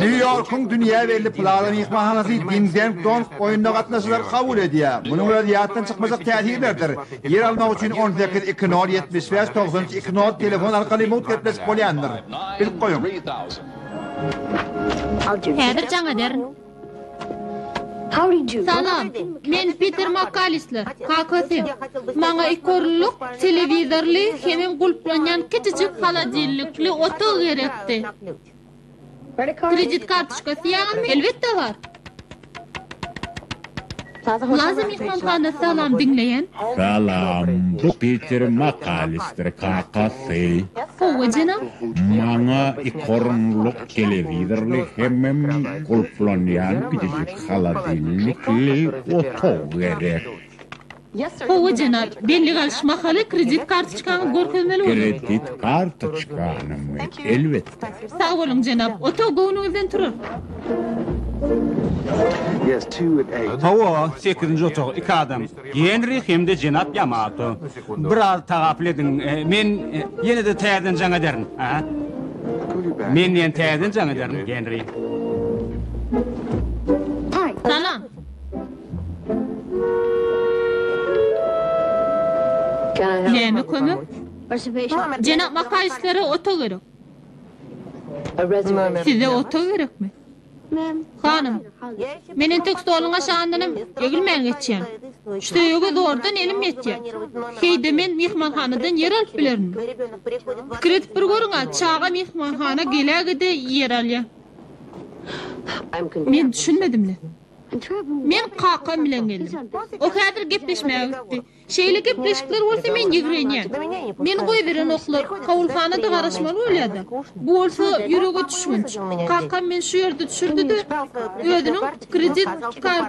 Nýu-Ýorkuň dünýä belli Plaza myhmanhanasy Ding-Deng-Dong oýnuna gatnaşyjylary kabul edýär. Munuň özi ýatdan çykmajak täsirlerdir. Ýer almak üçin on sekiz iki nol ýetmiş bäş togsan üç iki nol telefon arkaly mugt gepleşip bolýandyr. Bilip goýuň! Häzir jaň ederin. Salam, men Piter Makkalistler, kakasy. Maňa iki orunlyk telewizorly hemem gulplanýan kiçijik holodilnikli otag gerekdi. Kredit kartoçkasy ýaňymy? Elbetde bar. Plaza myhmanhanasy salam diňleýän. Salam bu Peter Makalister kakasy. Howwa jenap. Maňa iki orunlyk telewizorly hemem gulplanýan kiçijik holodilnikli otag gerek. Howwa jenap, belli galyş mahaly kredit kartoçkaňy görkezmeli bolar. Kredit kartoçkanymy? Elbetde. Sag boluň jenap. Otag göwnüňizden turar. Hawa, sekizinji otag, iki adam. Genri hem-de jenap Ýamato. Biraz tagapyl ediň, men ýene-de täzeden jaň ederin. Men ýene täzeden jaň ederin, Genri. Salam. Näme kömek? Jenap Makaýslara otag gerek. Size otag gerekmi? Hanym, men entek stoluň aşagyndanam egilmän geçýän. Söýege zordan elim ýetýär. Heý-de men myhmanhanadan ýer alyp bilerinmi? Pikir edip bir görüň-ä, çaga myhmanhana gelä-gide ýer alýar. Men düşünmedim-le. Men kakam bilen geldim. Ol häzir gepleşmäge gitdi. Şeýle gepleşikler bolsa men ýigrenýän. Meni goýberenoklar, kabulhana-da garaşmaly bolýa-da. Bu bolsa ýürege düşgünç. Kakam meni şu ýerde düşürdi-de, özüniň kredit karty.